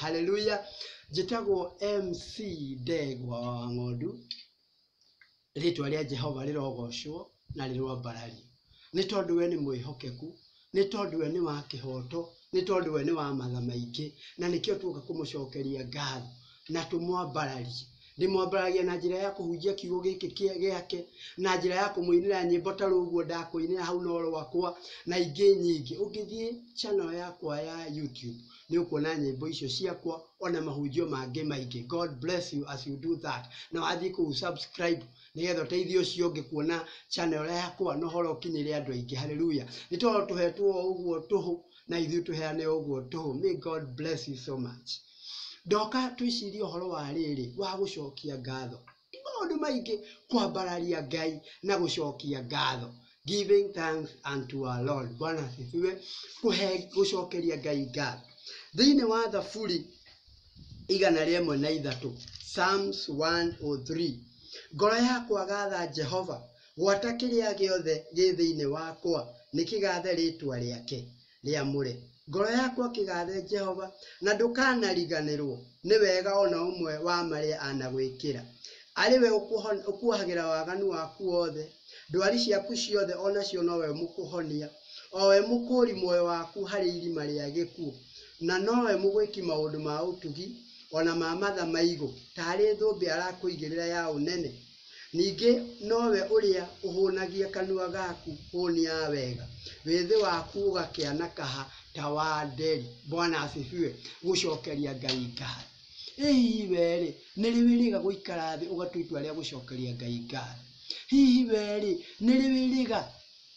haleluya njĩtagwo mc ndegwa wa ng'ondu rĩtwa rĩa jehova rĩrogocwo na rĩrwambarari nĩ tondũ we nĩ mwĩhokeku nĩ tondũ we nĩ wa kĩhoto nĩ tondũ we nĩ wa matha maingĩ na nĩkĩo tuoka kũmũcokeria ngatho na tũmwambararie. Ndĩmwambararia na njĩra ya kũhunjia kiugo gĩkĩ kĩa- gĩake, na njĩra ya kũmũinĩra nyĩmbo ta rũguo ndakũinĩra hau no rwakwa, na ingĩ nyingĩ. Ũngĩthiĩ channel yakwa ya YouTube, nĩ ũkuona nyĩmbo icio ciakwa, ona mahunjio mangĩ maingĩ. God bless you as you do that. Na wathiĩ kũu subscribe, nĩgetha ũteithie ũcio ũngĩ kuona channel yakwa, na ũhoro ũkinyĩre andũ aingĩ. Hallelujah. Nĩ tondũ tũhetwo o ũguo tũhũ, na ithuĩ tũheane ũguo tũhũ. May God bless you so much. Ndoka twĩcirie ũhoro wa rĩrĩ wa gũcokia ngatho. Nĩ maũndũ maingĩ kwambararia Ngai na gũcokia ngatho. Giving thanks unto our Lord. Bwana asifiwe. Kũhe gũcokeria Ngai ngatho. Thĩinĩ wa Thaburi igana rĩmwe na ithatũ, Psalms 103. Ngoro yakwa gatha Jehova Gwata kĩrĩa gĩothe gĩ thĩinĩ wakwa nĩkĩgaathe rĩĩtwa rĩake rĩamũre. Ngoro yakwa kĩgaathe Jehova, na ndũkanariganĩrwo nĩ wega o na ũmwe wa marĩa anagwĩkĩra. Arĩ we ũkuohagĩra waganu waku wothe, ndwari ciaku ciothe o nacio no we ũmũkũhonia, o we mũkũũri muoyo waku harĩ irima rĩa gĩkuũ, na no we mũgwĩki maũndũ ma ũtugi, o na ma matha maigũ, taarĩ thũmbĩ arakũigĩrĩra ya ũnene. Ningĩ nowe ũrĩa ũhũnagia kanua gaku hũni ya wega, wĩthĩ waku ũgakĩana kaha ta wa nderi. Bwana asifiwe. Gũcokeria Ngai ngatho. Ĩ hihi wee-rĩ, nĩ rĩ wĩrĩga gũikara thĩ ũgatua itua rĩa gũcokeria Ngai ngatho? Hihi wee-rĩ, nĩ rĩ wĩrĩga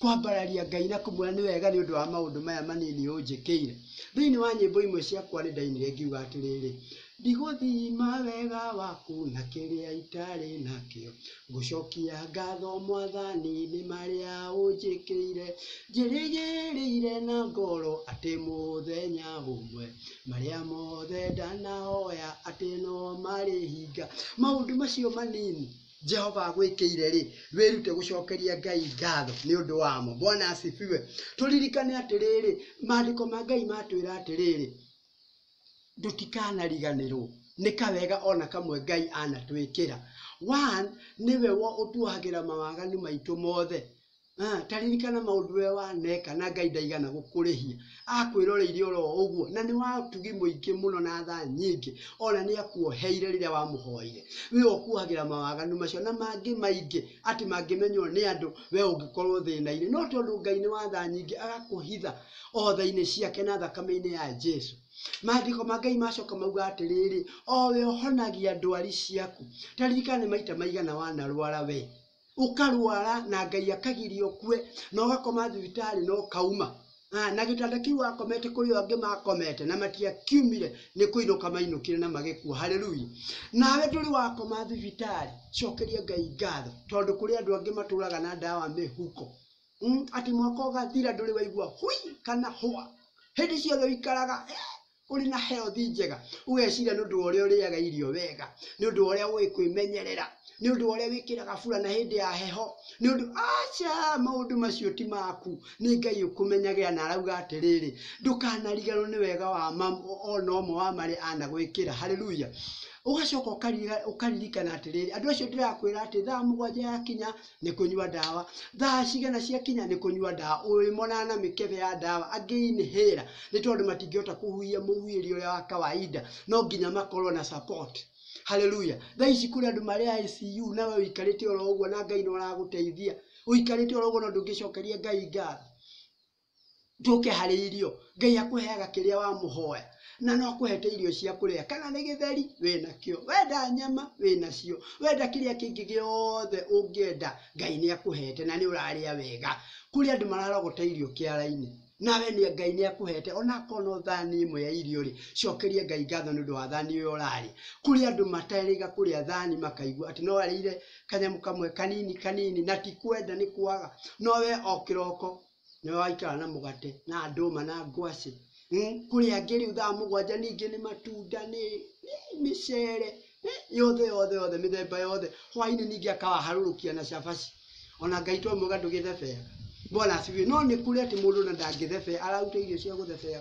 Kwambararia Ngai na kũmwĩra nĩ wega nĩ ũndũ wa maũndũ maya manini ũnjĩkĩire. Thĩinĩ wa nyĩmbo imwe ciakwa nĩ ndainire ngiuga atĩrĩrĩ, Ndigũthima wega waku na kĩrĩa itarĩ nakĩo, ngũcokia ngatho Mwathani nĩ marĩa ũnjĩkĩire. Njĩrĩgĩrĩire na ngoro atĩ mũthenya ũmwe marĩa mothe ndanahoya atĩ no marĩhinga. Maũndũ macio manini. jehova agwĩkĩire rĩ wĩrute gũcokeria ngai ngatho nĩ ũndũ wamo bwana asifiwe tũririkane atĩrĩrĩ maandĩko ma ngai matwĩra atĩrĩrĩ tũtikanariganĩrwo nĩ kawega ona kamwe ngai anatwĩkĩra one nĩwe wo ũtuohagĩra mawaganu maitũ mothe Ah, ta ririkana maũndũ we waneka na ngai ndaigana gũkũrĩhia akwĩroreire oro ũguo na nĩ watugi mũingĩ mũno na tha nyingĩ ona nĩ akuoheire rĩrĩa wamũhoire we ũkuohagĩra mawaganu macio na mangĩ maingĩ atĩ mangĩmenywo nĩ andũ we ũngĩkorwo thĩna-inĩ no tondũ ngai nĩ wa tha nyingĩ agakũhitha o tha-inĩ ciake na thakame-inĩ ya jesu maandĩko ma ngai macoka mauga atĩrĩrĩ o we ũhonagia ndwari ciaku ta ririkana nĩ maita maigana wanarwara we ũkarwara na Ngai akagiria ũkue na ũgakoma thibitarĩ na ũkauma Ah, na gĩtanda kĩu wakomete kũrĩ angĩ makomete na matiakiumire nĩ kũinũka mainũkire na magĩkua haleluya nawe ndũrĩ wakoma thibitarĩ cokeria ngai ngatho tondũ kũrĩ andũ angĩ matũraga na ndawa mĩhuko mm, atĩ mwaka ũgathira ndũrĩ waigua hui kana hwa hĩndĩ ciothe ũikaraga eh, ũrĩ na health njega ũgeciria nĩ ũndũ wa ũrĩa ũrĩaga irio wega nĩ ũndũ wa ũrĩa ũĩ kwĩmenyerera nĩ ũndũ wa ũrĩa wĩkĩraga burana hĩndĩ ya heho nĩ ũndũ aca maũndũ macio ti maku nĩ ngai ũkũmenyagĩra na arauga atĩrĩrĩ ndũkanariganwo nĩ wega wa mam- o- ona ũmwe wa marĩa anagwĩkĩra haleluya ũgacoka ũkarira- ũkaririkana atĩrĩrĩ andũ acio ndĩrakwĩra atĩ thaa mũgwanja yakinya nĩ kũnyua ndawa, thaa cigana ciakinya nĩ kũnyua ndawa, ũyũ aimanaga na mĩkebe ya ndawa, angĩ inhaler nĩ tondũ matingĩhota kũhuhia mũhuhĩri ũrĩa wa kawaida, no nginya makorwo na support. Hallelujah. Thaa ici kũrĩ andũ marĩ ICU na we ũikarĩte oro ũguo na Ngai nĩ ũragũteithia. Ũikarĩte oro ũguo no ndũngĩcokeria Ngai ngatho. njũke harĩ irio ngai akũheaga kĩrĩa wamũhoya na no akũhete irio cia kũrĩa kana nĩ gĩtheri wĩnakĩo wenda nyama wĩnacio wenda kĩrĩa kĩngĩ gĩothe ũngĩenda ngai nĩ akũhete na nĩ ũrarĩa wega kũrĩ andũ mararogota irio kĩara-inĩ nawe nĩ ngai nĩ akũhete ona akorwo no thani ĩmwe ya irio rĩ cokeria ngai ngatho nĩ ũndũ wa thani ũyũ ũrarĩa kũrĩ andũ matarĩga kũrĩa thani makaigua atĩ no arĩire kanyamũ kamwe kanini kanini na ti kwenda nĩ kwaga no we o kĩroko nĩwe waikara na mũgate na ndũma na ngwacĩ hmm? kũrĩa angĩ rĩu thaa mũgwanja ningĩ nĩ matunda nĩ mĩcere yothe yothe yothe mĩthemba yothe hwainĩ ningĩ akawaharũrũkia na cabaci ona ngai to mwega ndũgĩthebea bwana asifiwe no nĩ kũrĩ atĩ mũndũ na ndangĩthebea araruta irio cia gũthebea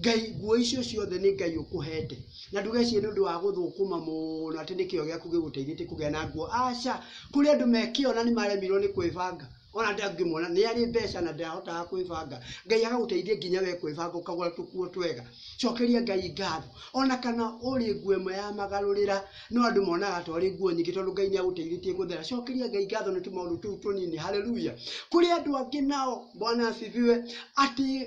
Ngai, nguo icio ciothe nĩ Ngai ũkũhete. Na ndũgecirie nĩ ũndũ wa gũthũkũma mũno atĩ nĩ kĩyo gĩaku gĩgũteithĩtie kũgĩa na nguo. Aca, kũrĩ andũ mekĩona nĩ maremirwo nĩ kwĩbanga. Ona ndangĩmwona nĩ arĩ mbeca na ndahotaga kwĩbanga. Ngai agagũteithia nginya we kwĩbanga ũkagũra tũkuo twega. Cokeria Ngai ngatho. Ona kana ũrĩ nguo ĩmwe ya magarũrĩra, no andũ monaga ta ũrĩ nguo nyingĩ tondũ Ngai nĩ agũteithĩtie gũthera. Cokeria Ngai ngatho nĩ tũmaũndũ tũu tũnini. Hallelujah. Kũrĩ andũ angĩ nao, Bwana asifiwe, atĩ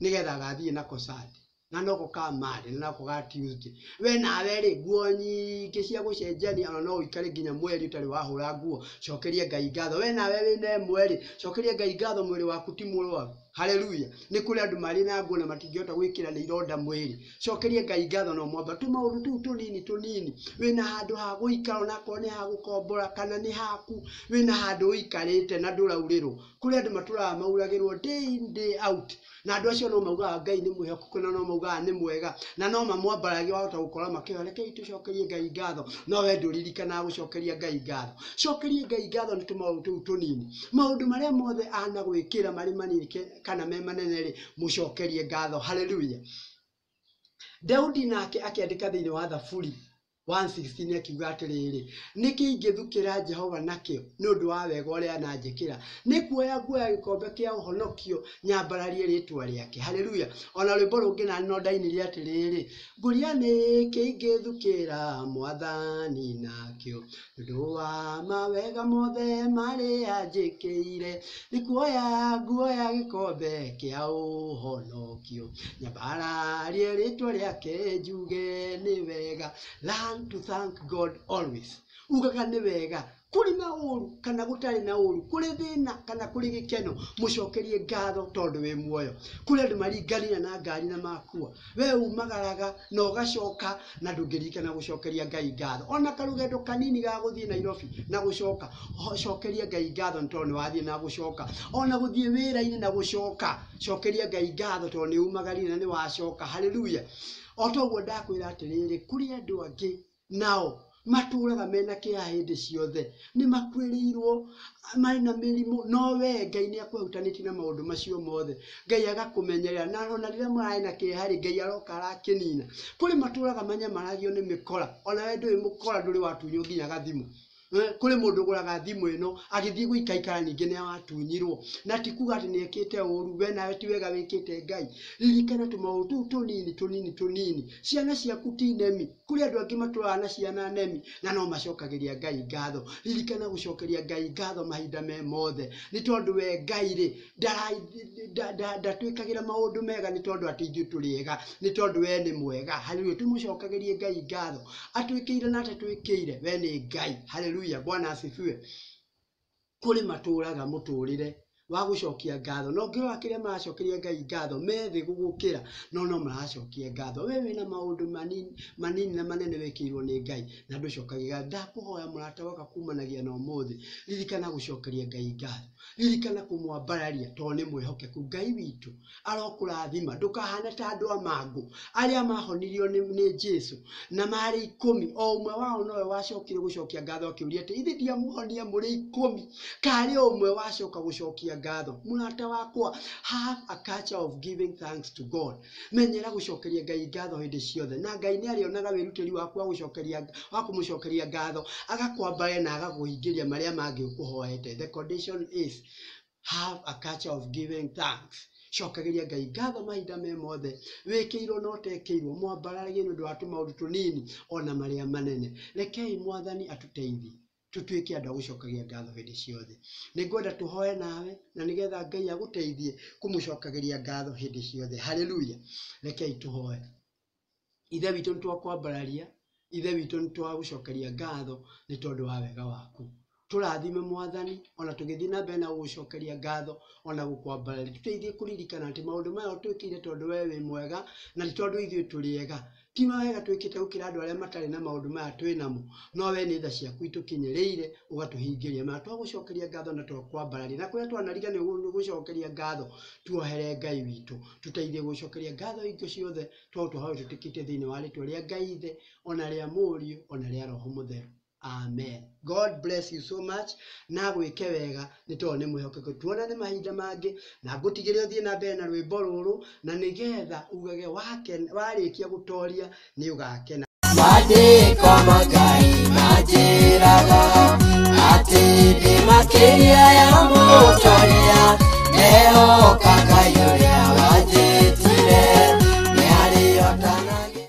nĩgetha agathiĩ nako Sande na noko ka Mande na nako ga Tuesday we nawe rĩ nguo nyingĩ cia gũcenjania ona no ũikare nginya mweri ũtarĩ wahũra nguo cokerie Ngai ngatho we nawe wĩna ĩmwe rĩ cokerie Ngai ngatho mwĩrĩ waku ti mũrwaru haleluya nĩ kũrĩ andũ marĩ na nguo na matingĩhota gwĩkĩra nĩ ironda mwĩrĩ cokerie Ngai ngatho no mwamba tũmaũndũ tũu tũnini tũnini wĩna handũ ha gũikara onakorwo nĩ ha gũkombora kana nĩ haku wĩna handũ ũikarĩte na ndũraurĩrwo Kũrĩ andũ matũraga mauragĩrwo day in day out, na andũ acio no maugaga Ngai nĩ mwĩhokeku na no maugaga nĩ mwega, na no mamwambararie wahota gũkora makĩhoya rekei tũcokerie Ngai ngatho, no wee ndũririkanaga gũcokeria Ngai ngatho. Cokeria Ngai ngatho nĩ tũmaũndũ tũu tũnini. Maũndũ marĩa mothe anagwĩkĩra marĩ manini kana me manene-rĩ, mũcokerie ngatho. Hallelujah. Daudi nake akĩandĩka thĩiniĩ wa Thaburi, 1:16 nĩ akiuga atĩrĩrĩ, nĩkĩ ingĩthukĩra Jehova nakĩo nĩ ũndũ wa wega ũrĩa ananjĩkĩra? Nĩ kuoya nguoya gĩkombe kĩa ũhonokio nyambararie rĩtwa rĩake. Haleluya! O na rwĩmbo rũngĩ na no ndainire atĩrĩrĩ, ngũria nĩkĩ ingĩthukĩra mwathani nakĩo Ndũa mawega mothe marĩa njĩkĩire, nĩkuoya nguoya gĩkombe kĩa ũhonokio, nyambararie rĩtwa rĩake njuge nĩ wega, learn to thank God always, ugaga nĩ wega, kũrĩ na ũru kana gũtarĩ na ũru, kũrĩ thĩna kana kũrĩ gĩkeno, mũcokerie ngatho tondũ wĩ muoyo, kũrĩ andũ maringanĩra na ngari na makua, We umagaraga na ũgacoka na ndũngĩririkana gũcokeria Ngai ngatho. Ona karũgendo kanini ga gũthiĩ Nairobi na gũcoka, cokeria Ngai ngatho nĩ tondũ nĩwathiĩ na gũcoka. Ona gũthiĩ wĩra-inĩ na gũcoka, cokeria Ngai ngatho tondũ nĩumagarire na nĩwacoka. Hallelujah. O ta ũguo ndakwĩra atĩrĩrĩ, kũrĩ andũ angĩ, Nao matũũraga me na kĩeha hĩndĩ ciothe, nĩ makuĩrĩirũo, marĩ na mĩrimũ, no wee, Ngai nĩ akũhutanĩtie na maũndũ macio mothe. Ngai agakũmenyerera, na o na rĩrĩa mararĩ na kĩeha-rĩ, Ngai aroka arakĩnina. Kũrĩ matũũraga manyamaragio nĩ mĩkora, o na wee ndũrĩ mũkora, ndũrĩ watunywo nginya gathimo. Kũrĩ mũndũ ũgũraga thimũ ĩno, agĩthiĩ gũikaikara ningĩ nĩ atunyirwo. Na ti kuga atĩ nĩ ekĩte ũũru, we nawe ti wega wĩkĩte Ngai. Ririkana tũmaũndũ tũu tũnini tũnini tũnini. Ciana ciaku ti nemi. Kũrĩ andũ angĩ matũraga na ciana nemi, na no macokagĩria Ngai ngatho. Ririkana gũcokeria Ngai ngatho mahinda me mothe. Nĩ tondũ we Ngai-rĩ, ndatwĩkagĩra maũndũ mega nĩ tondũ atĩ ithuĩ tũrĩ ega, nĩ tondũ we nĩ mwega. Haleluya! Tũmũcokagĩrie Ngai ngatho atwĩkĩire na atatwĩkĩire, we nĩ Ngai. Haleluya! Bwana asifiwe. Kũrĩ matũũraga mũtũũrĩre wa gũcokia ngatho, na ũngĩrora kĩrĩa maracokeria Ngai ngatho, me thĩ gũgũkĩra, no no maracokia ngatho. We wĩna maũndũ manini, manini na manene wĩkĩirwo nĩ Ngai na ndũcokagia ngatho. Ndakũhoya mũrata waka kumanagia na ũmũthĩ, ririkana gũcokeria Ngai ngatho. ririkana kũmwambararia tondũ nĩ mwĩhokeku ngai witũ arokũrathima ndũkahane ta andũ a mangũ arĩa mahonirio nĩ, nĩ jesu na marĩ ikũmi o ũmwe wao nowe wacokire gũcokia ngatho akĩũria atĩ ithe ndiamuhonia mũrĩ ikũmi karĩ o ũmwe wacoka gũcokia ngatho mũrata wakwa have a culture of giving thanks to god Menyera gũcokeria Ngai ngatho hĩndĩ ciothe, na Ngai nĩ arĩonaga wĩrutĩri waku wa gũcokeria wa kũmũcokeria ngatho, agakwambare na agakũhingĩria marĩa mangĩ ũkũhoete. The condition is have a culture of giving thanks. Cokagĩria Ngai ngatho mahinda me mothe, wĩkĩirwo na ũtekĩirwo, mwambararagie nĩ ũndũ wa tũmaũndũ tũnini o na marĩa manene. Rekei Mwathani atũteithie. tũtuĩke andũ a gũcokagia ngatho hĩndĩ ciothe. Nĩ ngwenda tũhoe nawe na nĩgetha Ngai agũteithie kũmũcokagĩria ngatho hĩndĩ ciothe. Haleluya! Rekei tũhoe. Ithe witũ nĩ twakwambararia, Ithe witũ nĩ twagũcokeria ngatho nĩ tondũ wa wega waku. Tũrathime Mwathani, ona tũgĩthiĩ na mbere na gũgũcokeria ngatho, ona gũkwambararia. Tũteithie kũririkana atĩ maũndũ maya ũtwĩkĩire tondũ wee wĩ mwega, na ti tondũ ithuĩ tũrĩ ega. Ti mawega twĩkĩte gũkĩra andũ arĩa matarĩ na maũndũ maya twĩ namo, no wee nĩ tha ciaku itũkinyĩrĩire, ũgatũhingĩria. Mana twagũcokeria ngatho na twakwambararia, na kũrĩa twanariga nĩ gũcokeria ngatho, tuohere Ngai witũ. Tũteithie gũcokeria ngatho hingo ciothe, twaũtũhoya ũtwĩtĩkĩtie thĩinĩ wa rĩtwa rĩa Ngai Ithe, o na rĩa Mũriũ, o na rĩa Roho Mũtheru. amen god bless you so much na gwĩke wega nĩ tondũ nĩ mwĩhokeku tuonane mahinda mangĩ na ngũtigĩre ũthiĩ na mbere na rwĩmbo rũrũ na nĩgetha ugage wake- warĩkia gũtoria nĩ ũgakena Maandĩko ma Ngai manjĩraga atĩ ndĩ makĩria ya mũtongoria, ndehoka Ngai ũrĩa wanjĩtire, nĩarĩotanagia.